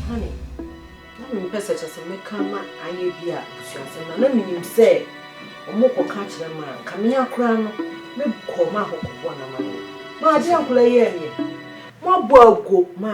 Honey, na mempɛ sɛ kyɛ sɛ mɛka ma ayɛ bi a abusuasɛm na na menim sɛ ɔmo kɔka kyerɛ ma nka mea koraa no me kɔɔ ma hɔ kɔbɔɔ no amanneɛ ma adeɛ a nkɔla yi yɛɛ meɛ moabɔ aguo ma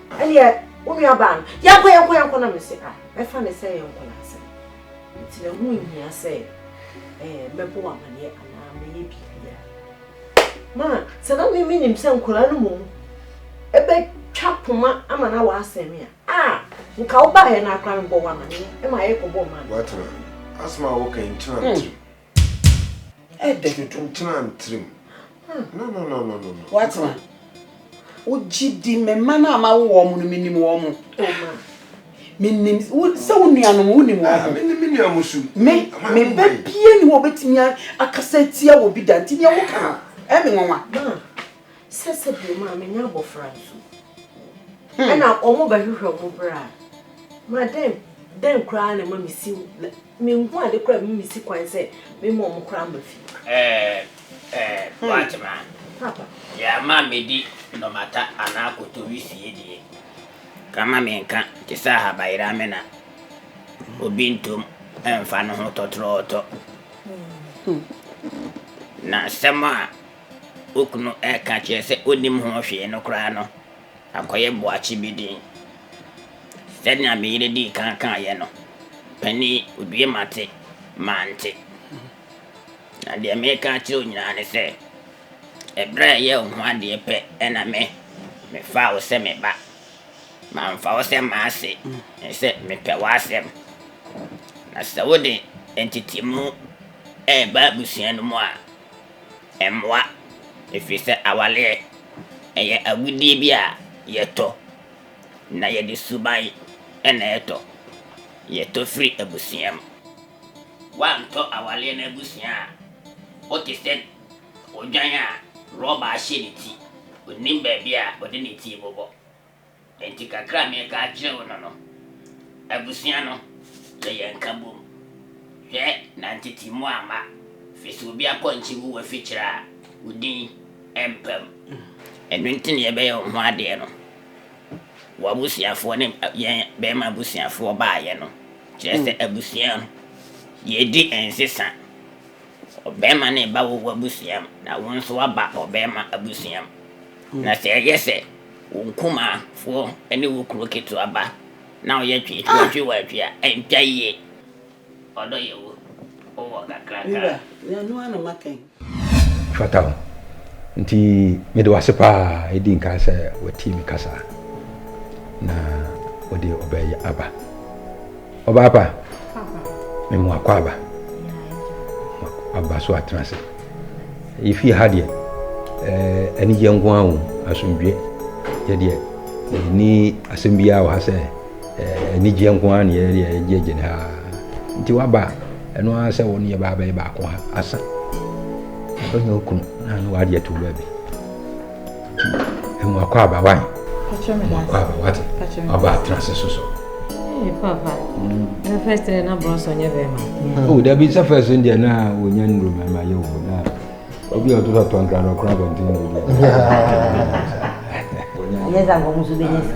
Ɛneɛ wo nua baa no yɛnkɔ yɛnkɔ yɛnkɔ na me se ah mɛfa ne sɛ yɛ nkɔla asɛm nti na ho nhia sɛ eh, mɛbɔ amaneɛ anaa mɛyɛ biribia ma sɛ na me menim sɛ nkɔla no mom ɛbɛtwa poma ama na waasɛn me a ah nka wo baayɛ no akora mebɔ wo amaneɛ ɛma yɛkɔbɔ ma no watena asɛm a woka nkyena ntirim Ɛdɛ. Tuntum tenaa ne tirim. No, no, no, no, no, no. Wate ma? Wogye di me mma no a mawo wɔn no menim wɔn mo? O ma. Menim sɛ wo nuanom wonim wɔn mo? Menim me nua mo su. Me, me ba bie ni hɔ obetumi akasa atia wɔ bi da nti nea woka no ɛmi nwanwa. Sɛ sɛdeɛ maamennya abɔfra nso, hmm. ɛna wɔn bɛhwehwɛ wɔn berɛ a, ma dɛn dɛn koraa na ɛma mesi menhu ade koraa ɛma mesi kwan sɛ mema wɔn koraa ma fie. Ɛɛ ɛɛ hmm. Boakyema, deɛ ama medi nnɔmata anaa kotowi sie deɛ, kama menka te sɛ ahabayera me na obi ntom ɛmfa no ho tɔtorɔɔtɔ. Hmm. Na asɛm a okunu reka akyerɛ sɛ onnim ho hwee no koraa no akɔyɛ boakye bi den. Sɛnea me yere dii kan kaeɛ no, panin yi, odue mate, mante. Na deɛ meka akyerɛ wo nyinaa ne sɛ, ɛberɛ a ɛyɛ wo ho adeɛ pɛ na me, mefaa wo sɛ me ba. Mamfa wo sɛ m'ase, ne sɛ mepɛ w'asɛm. Na sɛ wode ntetemu reba abusua no mu a, Ɛmmoa, ɛfiri sɛ awareɛ, ɛyɛ agudeɛ bi a yɛtɔ, na yɛde suban na ɛtɔ. Yɛtɔ firi abusua mu. Woantɔ awareɛ no abusua a, wote sɛ odwan a rɔba ahyɛ ne ti, ɔnnim baabi a ɔde ne ti rebobɔ. Enti kakra a mereka akyerɛ wo no no, abusua no yɛ yɛn nkabom. Hwɛ na ntete mu amma, firi sɛ obi apɔnkye wu w'afikyiri a, wo din rempa mu. Ɛno nti na yɛbɛyɛ wo ho adeɛ no, w'abusuafoɔ ne yɛn barima abusuafoɔ baeɛ no, kyerɛ sɛ abusua no, yɛredi nsesa. Sɛ ɔbarima ne ba wɔ w'abusua mu, na wo nso woaba ɔbarima abusua mu, na sɛ ɛyɛ sɛ wo nkumafoɔ ne wo kuro ketewa ba na ɔyɛ twe twe wɔtwe wo atwi a, ɛntwa yie. Ɔdɔ yɛ wo, wo wɔ kakraka. Ɛfata wo. Nti mede wo ase paa ɛdi nkan sɛ watie me kasa na ɔde ɔbɛ yi aba. Ɔbaapa, me mu akɔ aba. Aba so atena ase. Yɛfie ha deɛ, eh, anigyeɛ nko ara wɔ asomdwoeɛ. Yɛdeɛ, ɛni asɛm biara wɔ ha sɛ eh, anigyeɛ nko ara na yɛdeɛ yɛgye gyene ha. Nti waba a, ɛno ara sɛ wo ne yɛba abɛyɛ baako ha asa. Ɔnyɛ okunu na ano wadeɛ to baabi. Emu akɔ aba wa? Emu akɔ aba wa te? Aba atena se so so. Ee papa. Na first day na bronze onye be ma. Oh, da bi sa first day na onye nuru ma ma ye wo na. Obi o to so ton kra no kra bontin no. Onye za ngo musu be nyesa.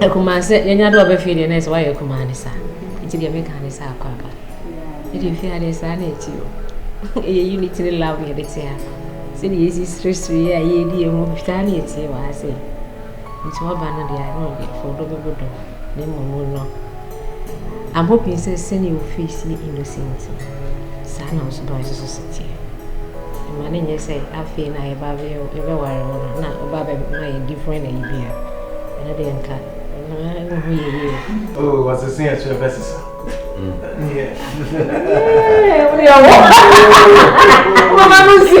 Akumaa sɛ yɛnya do a ɔbɛfee deɛ na ɛsɛ wayɛ akumaa ne saa nti deɛ meka ne sɛ akɔ aba ɛde mfe adeɛ saa na ɛti o ɛyɛ unit ne lab na yɛde te ha sɛdeɛ yɛsi seresere yɛ a yɛdi yɛ ho saa na ɛtie wɔ ha sɛ nti waba no deɛ ano deɛ fɔdɔ bɛbɔ dɔ ne mmɔmu no Abɔ pii sɛ sɛnea wo face yɛ innocent no, saa na wo suban nso so si teɛ. Ɛma no nyɛ sɛ afei na yɛba abɛyɛ yɛbɛware wo no na ɔba abɛma yɛ different ayi bi a, ɛno deɛ nka ɛho ho yɛ yie. Oh, wɔsese yɛ kyerɛ bɛsesa. Yeah. Yeah, yeah. Mama no si.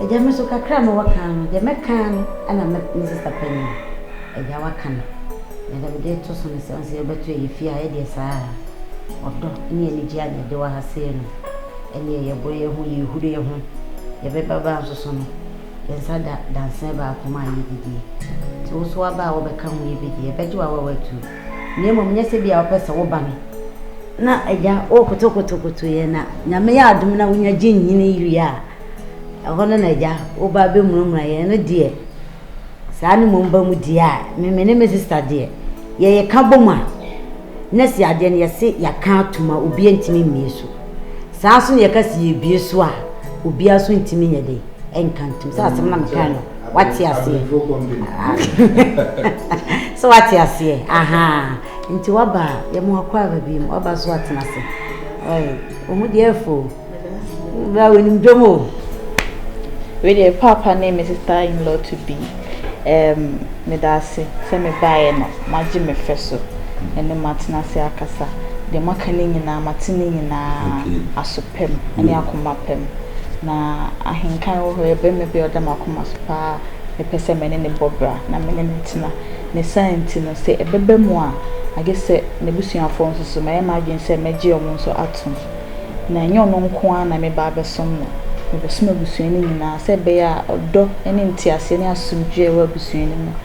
Agya me so kakra a me wɔ kan no deɛ mɛ kan no ɛna me me sister panyin agya wa ka no na deɛ me de to so no sɛ ɔnsɛ yɛ bɛ to yɛ fie a yɛ deɛ saa ɔdɔ ne anigye a yɛ de wɔ ha sei no ɛneɛ yɛ bɔ yɛ ho yɛ huri yɛ ho yɛ bɛ ba baa nso so no yɛ nsa da dansɛ baako mu a yɛ didie nti wo so wa ba a wɔ bɛ ka ho yɛ bɛ di yɛ bɛ gye wo a wa wɔ atuo. na mmom nyɛ sɛ bia wopɛ sɛ woba me na agya wokotokotokoto yɛ na nyame yɛ adom na wonya gye nyini wie a ɛhɔ no na agya woba bɛmuramura yɛ no deɛ saa no mmom ba mu deɛ a meme ne me sista deɛ yɛyɛ ka bɔ mu a na si adeɛ no yɛse yɛka atom a obi ntumi mmie so saa nso na yɛka si yɛbie so a obiara so ntumi nyɛ de ɛnka ntom sɛ asɛm na mekaa no wate aseɛ sɛ wate aseɛ aha nti waba a yɛma wakɔ aba bi mu waba so atena ase ɔmu deɛ afo bra wɔnim dwom o wei deɛ paapa ne me sister in law to be um, meda ase sɛ mebaeɛ no magye me fɛ so ɛne matena ase akasa deɛ maka no nyinaa mate no nyinaa aso pɛ mu ne akoma pɛ mu. Na ahenkan wɔ hɔ, ɛyɛ barima bi a ɔda m'akoma so pa ara a mepɛ sɛ me ne no bɔ bra na me ne no tena. Ne saa nti no, sɛ ɛbɛba mu a, agye sɛ n'abusuafoɔ nso so, mayɛ m'adwene sɛ mɛgye wɔn nso atom. Na ɛnyɛ ɔno nko ara na meba abɛsom no, mebɛsom abusua no nyinaa sɛ ɛbɛyɛ a ɔdɔ ne nteaseɛ ne asomdwoeɛ a ɛwɔ abusua no mu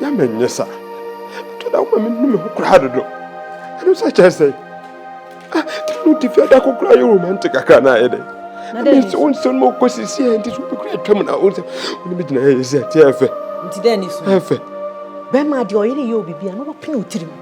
na menyɛ sa ɛtɔ da woma menu me ho koraa dodo ɛno sɛ kyerɛ sɛ tɛno nti fia da kokora yɛ romantic kakra na ayɛ dɛ mese wo nsɛm ma wokɔ sisiɛ nti so wobɛkura atwam na wo nsɛm wone megyina ɛyɛ sɛ ɛteɛ ɛfɛ nti dɛ ne so ɛfɛ bɛma deɛ ɔyere yɛ obibia na wapene wo tirim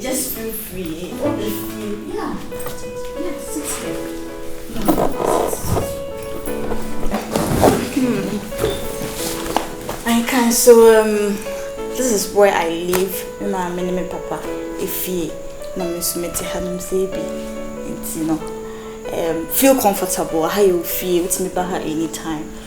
Just feel free obi fie yeah yeah sit here I can so um this is where I live me maame ne me papa efie na me nso mete ha nom sɛ bi nti no um feel comfortable aha yɛ ofie wotumi ba ha anytime.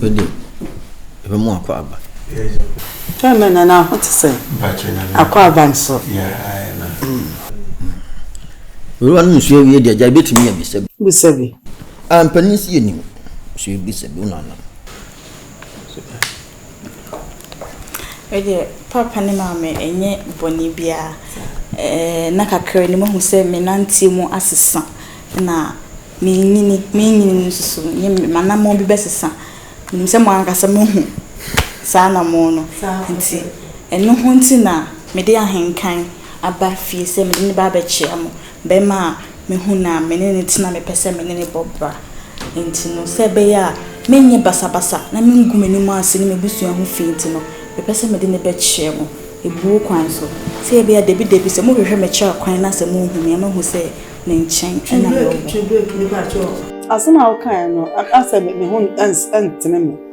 Wede, ebe mu akɔ aba. Twa mɛ na na ho te sɛ akɔ aba nso. Wura no nsuo awie deɛ gya ebetumi yɛ bisa bi. Bisa bi. A mpanyin si yɛ nim. So ebisa bi wo nana. Me deɛ papa ne maame ɛnyɛ bɔne biara. Nna kakraa ni mahu sɛ me nanteɛ mu asesa na me nyini me nyini nso so m'anammɔn bi bɛsesa. Menim sɛ mo ankasa moahu saa anammɔn no. Nti ɛno ho nti na mede ahenkan aba fie sɛ mede no ba abɛkyia mo. bɛma a mehu no a, me ne no tena, mepɛ sɛ me ne no bɔ bra. Enti no, sɛ ɛbɛyɛ a merenyɛ basabasa na merengu m'anim ase ne m'abusua ho fi nti no, mepɛ sɛ mede no bɛkyerɛ mo abuo kwan so. Sɛ ɛbɛyɛ a dabidabi, sɛ mohwehwɛ me kyerɛ kwan na sɛ mohu me a, moahu sɛ ne nkyɛn na mewɔ. Asɛm a wokae no, na sɛ me ho ntene me.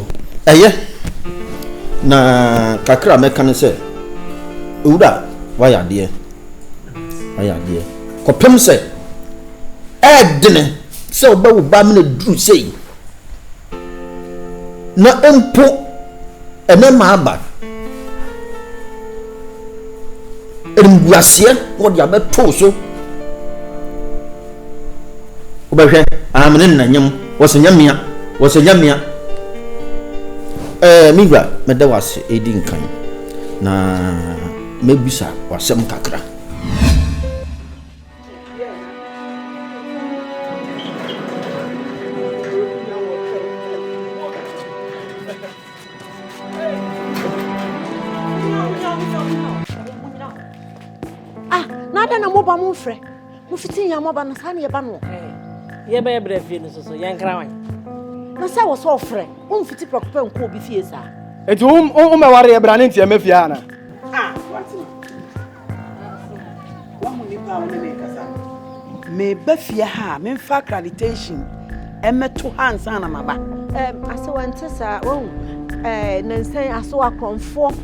Ɛyɛ. Na kakra a mɛka ne sɛ, Owura, woayɛ adeɛ. Woayɛ adeɛ. Kɔpem sɛ, ɛɛdene sɛ wobɛ wo ba mene duru sei. Na mpo, ɛnɛ maaba. Animguaseɛ na wɔde abɛtoo so. wobɛhwɛ ah mene nna nyam wɔsɛ nyamea wɔsɛ nyamea ɛɛ eh, me wura mɛda wase ɛdi nkan na mɛbisa wasɛm kakra ah, na adɛn na moba mo mfrɛ Mofiti yɛn mɔba no saa na yɛba no. Yɛbɛyɛ brɛ fie no soso yɛn kra wan. Na sɛ wɔ sɛ ɔfrɛ womfiti prɛko pɛ nkɔ obi fie saa. Eti wo wo mɛware yɛ bra ne ntiɛ mɛfie ha na. Ah, wate. Wahu nipa a wo ne ne kasa. Meba fie ha a memfa accreditation ɛmɛto ha nsa na maba. Ɛm, asewa nte saa, wahu. Ɛɛ, nansan asewa korɔmfoɔ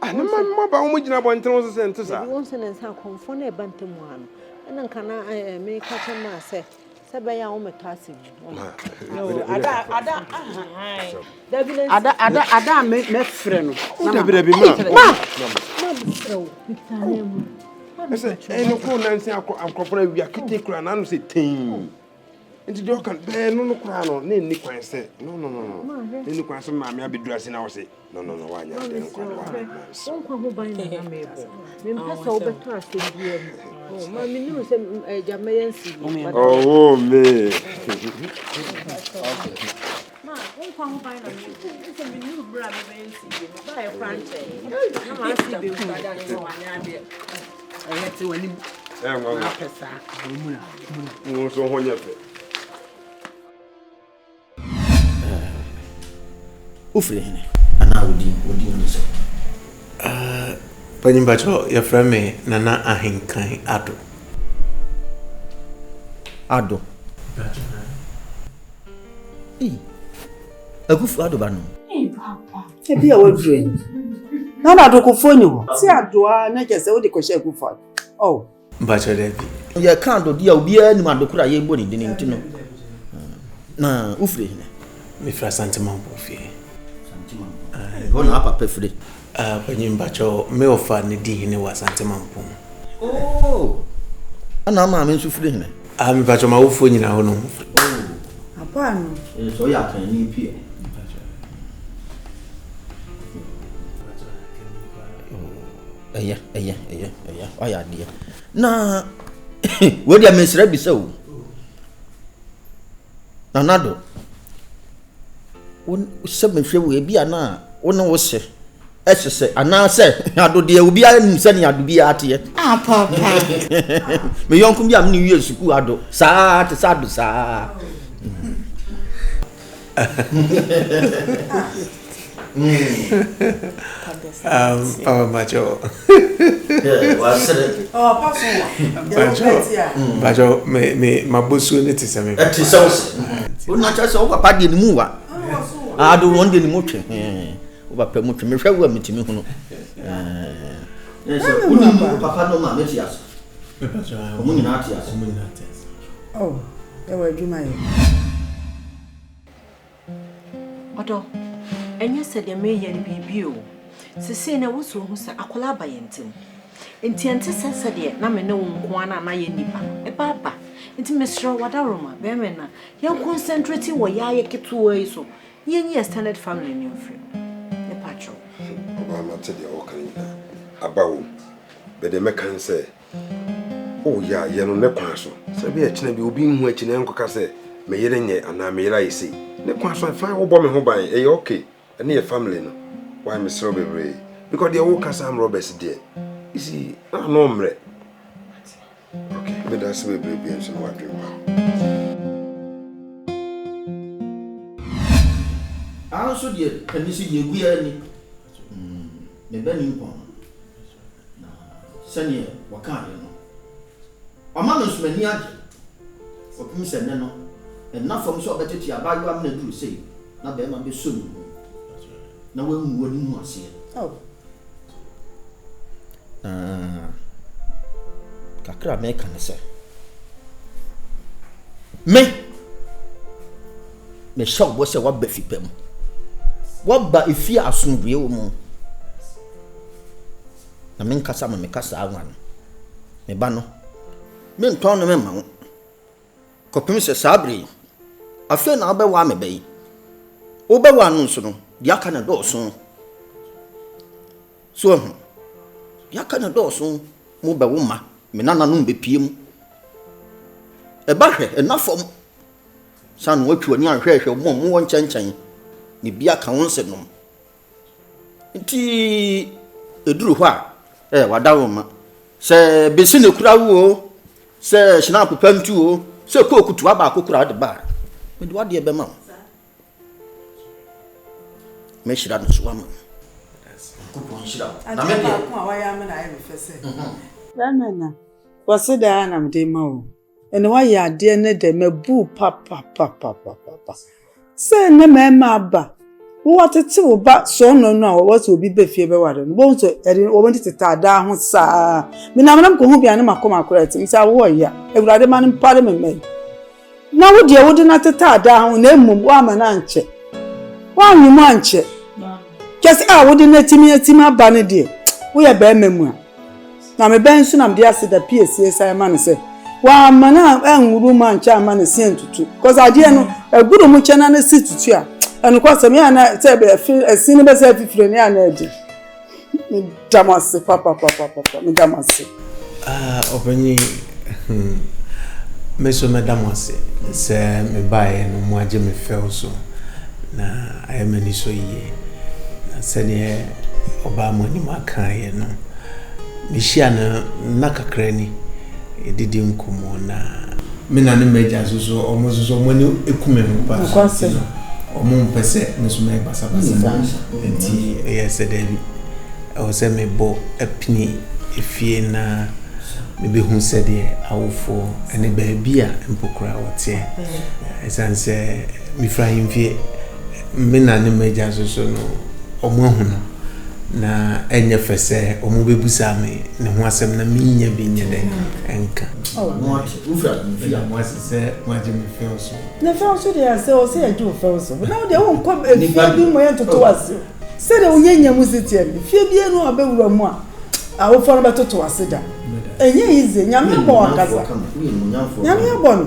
Ah, ne mma mma ba wɔn gyina abɔnten wɔn so sɛ nte saa. Ebi wɔn sɛ ne nsa akɔnfɔ na ɛba ntɛm ha no. Ɛna nka na ɛɛ eh, eh, me ka kyɛ maa sɛ sɛ bɛyɛ a wɔn mɛtɔ ase bi. Ada ada dabi na ada ada ada mɛ mɛ frɛ no. O oh, dabi dabi ma ma ma mi frɛ o mi ta ne mu. Ɛsɛ ɛnu kuro nansi akɔ akɔfra wia kete kura n'anu sɛ tɛn. nti deɛ ɔka bɛɛ no no koraa no na ɛnni kwan sɛ no no no no na ɛnni kwan sɛ maame abɛduru ase na wo se no no no woanyɛ adeɛ no kwa no woanyɛ wonkwa ho ban na na meebɔ mempɛ sɛ wobɛtɔ asɛm biaa mu oh, ma menim sɛ agya mɛyɛ nsi ɔwɔ me Wofiri hene? Anaa wo din, wo din ne sɛ? Panyin Bakyɛ, yɛfrɛ me Nana Ahenkan Ado. Ado. Ei, akufu ado ba no. Ei, papa. Ebi a waduru yi. Na na adokofoɔ ni hɔ. Si ado a na kyɛ sɛ wode kɔhyɛ akufu ado. Oh. Mpakyɛ dɛ bi. Yɛka ado di a obiara nim ado koro a yɛbɔ ne din nti no. Na wofiri hene? Mefiri Asante Mampo fie. Asante Mampo. Ɛhɔ na apapa firi. Ah panyin mpakyɛw me ɔfa ne di hene wɔ asante mampong. Ooh ɛna wo maame nso firi hene? Ah me mpakyɛw m'awofoɔ nyinaa hɔ nom firi. Ooh. Apa ano. Ee sɛ ɔyɛ akanni pia. ɛyɛ ɛyɛ ɛyɛ ɛyɛ wayɛ adeɛ na wei deɛ mesrɛ bi sɛ o nanado Wohyɛ me hwɛ o, ebia na wo ne wo se ɛhyehyɛ anaasɛ adodeɛ obiara nim sɛnea ado biara teɛ. Apapa. Me yɔnko bi a me ne wie sukuu ado saa te sɛ ado saa. mabosuo no te sɛ me ɛte sɛ wo se wona kyɛ sɛ wo papa deɛ ne mu wa ade wɔn deɛ ne mu twe wo papa mu twe mehwɛ wo a metumi hunu wonim wo papa no ma mete ase ɔmo nyinaa te ase ɛwɔ adwuma yɛ Ɔdɔ, ɛnyɛ sɛ deɛ mereyɛ no biribi o. Sesei no ɛwɔ sɛ ohu sɛ akwadaa aba yɛn ntam. Nti ɛnte sɛ sɛdeɛ na me ne wo nko ara no a na yɛn nnipa no, ɛba aba. Nti mesrɛ wo adaworoma, bɛrima no a, yɛn concentrate wɔ yaayɛ ketewaa yi so na yɛnyi extended family no mfiri mu. Mepa kyɛw. Ɔbaa mate deɛ wɔka nyinaa. Aba wom. Bɛdeɛ mɛka ne sɛ O ya yɛ no ne kwan so. Sɛbe ɛkyena bi obi nhu akyi na ɛnkɔka sɛ me yere nyɛ anaa me yere ayɛ sei. Ne kwan so fine wo bɔ me ho ban ɛyɛ ok ɛne yɛ family no why mesrɛ wo bebree because deɛ wo ka sɛ arm robbers deɛ you see na ano mmrɛ ok meda ase bebree bie nso na wadwen pa. Ano nso deɛ ɛno nso deɛ ɛgu yɛ ani. Me ba nimpɔn. Na sɛdeɛ wɔkaeɛ no, ɔma me nso m'ani agye kɔpem sɛ nnɛ no, ɛnna fam sɛ ɔbɛtete abaayewa mene duru sei na barima bɛsɔ ne mu na wangu w'ani ho aseɛ. Oh. Na kakra a meka ne sɛ, me! Mehyɛ wo bɔ sɛ woaba fi pa mu. Woaba efi a asomdwoeɛ wɔ mu. Na me nkasa ma meka saa nwa no. Me ba no, mentɔn no mma wo. Kɔpem sɛ saa bere yi, afei na wobɛwa me ba yi. Wobɛwa no nso no, deɛ aka no dɔɔso. So ahu, deɛ aka no dɔɔso mo bɛwo mma, me nananom bɛpie mu. Ɛba hwɛ, ɛna fam. San no atu w'ani anhwɛ hwɛ mo a mowɔ nkyɛnkyɛn, ne bi aka wo nsenom. Nti eduru hɔ a, eh, wada wo mma. Sɛ besi na ekura wo o, sɛ hyinaapo pa ntu o, sɛ kooku toa baako kora wode ba a, mede w'adeɛ bɛma wo. Mɛhyira no so ama wo. Nyankopɔn nhyira wo. Na me deɛ. Adeɛ baako a wayɛ ama no ayɛ me fɛ sɛ. Mɛmɛ na, wɔ se daa na mede ma wo. Ɛna wayɛ adeɛ ne dɛ mabuu papapapapapa sɛ ɛnɛ mɛɛma aba wo watete wo ba sɔɔnɔ no a wɔwɔ sɛ obi bɛ fie bɛware no bɔhu sɛ ɛde wɔn tete taadaa ho saa menam nam kɔhu bia ne makɔ makora ɛte mesɛ awo ɔya awurade ma no mpare me mɛ na wo deɛ wode no ate taadaa ho na mmom woama no ankyɛ woanwe mu ankyɛ kyɛ sɛ a wode no atimi atimi aba no deɛ woyɛ bɛɛma mu a Na me bɛn so na mede aseda pie sie sae ma no sɛ wamma no anwuru mu ankyɛ amma ne se antutu? Cause adeɛ no, ɛgoro mu kyɛ na ne se tutu a, ɛnokwasɛm yɛ ana sɛ ɛse no bɛsɛ afifire ne ana ɛde? Meda mo ase papapapapa, meda mo ase. Ah, ɔpanyin, hmm, me so meda mo ase sɛ mebaeɛ no moagye me fɛw so na ayɛ m'ani so yie na sɛdeɛ Ɔbaa mo anim akaeɛ no, mehyiaa no nna kakra ni, yɛdidi nkɔmmɔ na. Me na ne m'agya nso so wɔn nso so wɔn ani ku me ho paa. Nokwasɛm. Wɔn mpɛ sɛ me nso mɛyɛ basabasa. Nti ɛyɛ sɛ daabi ɛwɔ sɛ mebɔ apini efie na mebɛhu sɛdeɛ awofoɔ ne baabi a mpo koraa wɔteɛ. Ɛsiane sɛ mefiri ahemfie. Me na ne m'agya nso so no, wɔahu no, na ɛnyɛ fɛ sɛ wɔbɛbisa me ne ho asɛm na mennya bi nyɛ dɛ nka. Moase sɛ moagye me fɛw so. Ne fɛw so deɛ sɛ ɔsɛ yɛgye wo fɛw so. Na wodeɛ wonkɔ fie bi mu yɛntoto ase. Sɛdeɛ wonya nya mu si teɛ no, fie bi anu a wobɛwura mu a, awofoɔ no bɛtoto ase da. Ɛnyɛ yize, Nyame abɔ wɔn ankasa. Nyame abɔ no.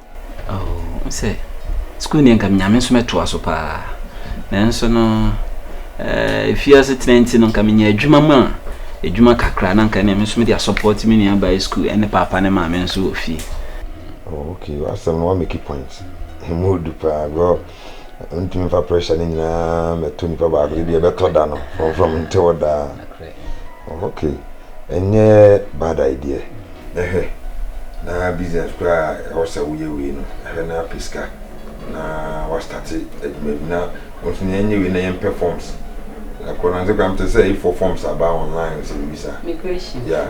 Oh wo sɛ school deɛ nka menyame nso mɛtoa so paa nanso no eh, fie ase tena nti no nka menya adwuma mu a adwuma kakra na nka ne me nso mede asɔpɔte me nua bae school ɛne paapa ne maame nso wɔ fie. Oh, okay, asɛm no wa make point. Ɛmu odu paa, bro. Ntumi fa pressure ne nyinaa mɛto nipa baako ebi ɛbɛtɔ da no from from nte hɔ daa oh, okay ɛnyɛ bad idea ɛhwɛ na business koraa ɛwɔ sɛ woyɛ wei no ɛhwɛ na apɛ sika na wastate adwuma bi na wɔn so na yɛnyɛ wei na yɛn pɛ forms ɛkɔ na nse kora mte sɛ ifo forms aba online sɛ biribi saa yeah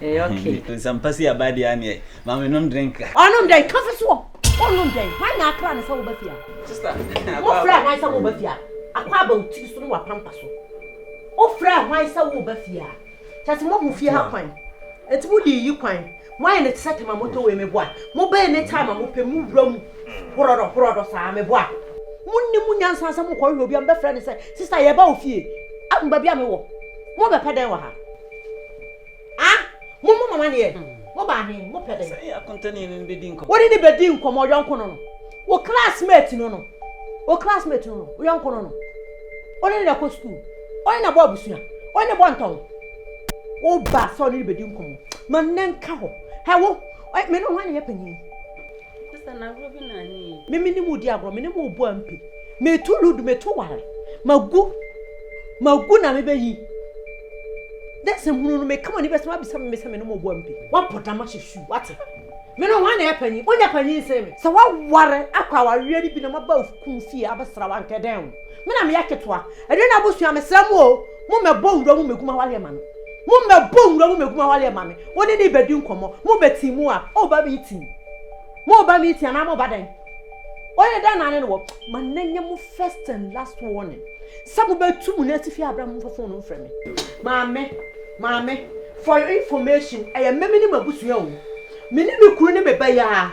Ɛyɛ okay. Nsɛmpa si aba deɛ aneɛ maame nom drink ka. Ɔnom dɛn ka fi soɔ ɔnom dɛn hwan na akra no sɛ woba fie a. Sista mofrɛ hwan sɛ woba fie a akɔ aba wo tiri so ne wapampa so wofrɛ hwan sɛ woba fie a kyɛ sɛ moahu fie ha kwan ɛti mo de yi kwan moayɛ ne te sɛ tema motɔ wei meboa mobɛyɛ ne time a mopɛ mo wura mu horɔdɔ horɔdɔ saa meboa monni mu nyansa sɛ mokɔhwehwɛ obi a mobɛfrɛ ne sɛ sista yɛba wo fie ahu baabi a mewɔ mobɛpɛ dɛn wɔ ha Ah, mo mo mama neɛ, mo baa he, mo pɛ dɛn? Sɛ yɛ akontani no bɛdi nkɔmɔ. Wɔde ne bɛdi nkɔmɔ yɔnko no no. Wo classmate no no. Wo classmate no no. Wo yɔnko no no. Ɔne ne na kɔ sukuu. Ɔne na bɔ abusua. Ɔne ne bɔ ntɔn. Wo ba sɛ ɔne ne bɛdi nkɔmɔ. Ma nnɛ nka hɔ. Hɛ wo, me ne ho ne yɛ panyin. meme ne mu di agorɔ mene mu ɔbu ampe metu ludu metu ware magu magu na mebɛyi dɛ sɛ hunu no meka ma ne bɛsɛm abisa me sɛ mene mu ɔbu ampe wabɔ dam ahyɛ su wate me no hwan na yɛ panyin wonya panyin sɛ me sɛ waware akɔ awareɛ no bi na maba kun fie abɛsra wa nkɛdɛn wo me na meyɛ ketewa ɛdɛ no abusua mesrɛ mu o mo mɛbɔ wura mu mɛguma wareɛ ma no Mo mmɛbɔ nwura mu mɛgum awareɛ ma me, wo ne no rebɛdi nkɔmmɔ, mo ba tii mu a, o ba meeting, mo ba meeting anaa mo ba dɛn? Ɔyɛ dɛn na ne no wɔ? Ma no nyɛ mo first and last warning sɛ mo bɛtu mo no atifi abira mo mfa fon no mfrɛ me. Maame, maame, for your information, ɛyɛ me me ne m'abusua o, me ne me kunu ne me ba yi a.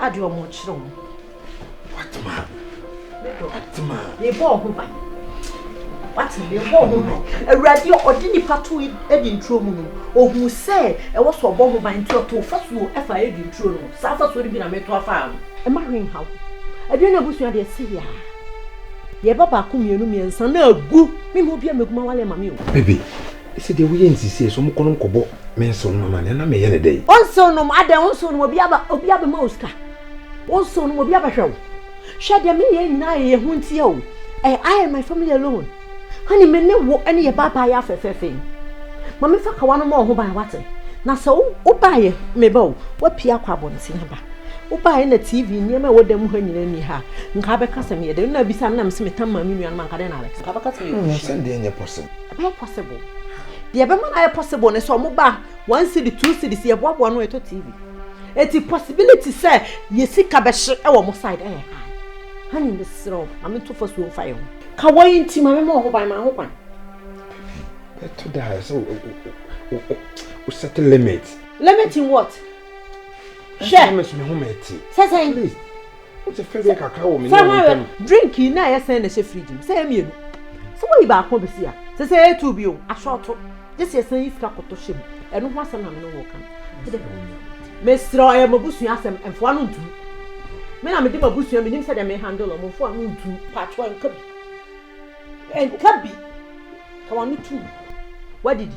Ade ɔmo kyerɛ ɔmo. Watema. Watema. Mebɔ ɔho ban. Watema. Mebɔ ɔho ban. Awurade ɔde nipa to edi nturo mu no, ohu sɛ ɛwɔ sɛ ɔbɔ ɔho ban nti ɔto fasuo ɛfa edi nturo no. Saa fasuo no bi na meto afa ano. Ɛma hwee nhaw. Aduane na abusua deɛ si yɛ a. Yɛba baako mmienu mmiɛnsa na agu. Mema obi a megu ma wale ma me o. Baby. Sɛ deɛ woyɛ nsisie so mokɔ nom kɔbɔ me nsew nom amanneɛ na meyɛ no dɛn? Wo nsew nom adɛn? Wo nsew nom obi aba obi abɛma wo sika? Wo nsew nom obi abɛhwɛ wo? Hwɛ deɛ meyɛ nyinaa yɛ yɛn ho ntia o ɛyɛ I and my family alone honey me ne wo ɛne yɛ baabaa yɛ afɛfɛɛfɛ yi ma me fa kawa no ma wo ho ban wate na sɛ wo wo baayɛ me ba o wapie akɔ abɔnten aba wo baayɛ na TV nneɛma ɛwɔ dan mu ha nyinaa ni ha nka abɛka sɛ meyɛ dɛn na abisa na me se metam maame nua no ma nka dɛn na abɛka sɛ abɛka sɛ meyɛ kɔhyi sɛ deɛ nyɛ pɔsɛm Ɛbɛyɛ possible. Deɛ ɛbɛma no ayɛ possible ne sɛ wɔba one cedi two cedi si yɛboaboa no ɛtɔ tv eti possibility sɛ yɛ sika bɛhye ɛwɔ mo side ɛyɛ ha ha ne mesrɛ wo maame to fa suo mfa yɛ ho ka wɔn yi nti maame ma wɔn ho ban ma ho kwan. ɛto da sɛ o set limit. limit in what? hwɛ sɛ sɛ. Wote fɛ deɛ kakra wɔ me ne wo ntam. Drink yi na ɛyɛ sɛn na ɛhyɛ fridge mu? Sɛ ɛyɛ mmienu. Sɛ woyi baako a bɛsi a, sɛ sɛ ɛyɛ two bio, asɔɔto. Gye sɛ yɛsan yi sika kɔtɔ hyɛ mu. Ɛno ho asɛm na me ne wo reka no. Mesrɛ wo, ɛyɛ m'abusua asɛm, mfoa no ntu. Me na mede m'abusua, menim sɛdeɛ me handle wɔn, mfoa no ntu. Paatwoɔ, nka bi. Nka bi. Ka w'ano tom. Woadidi.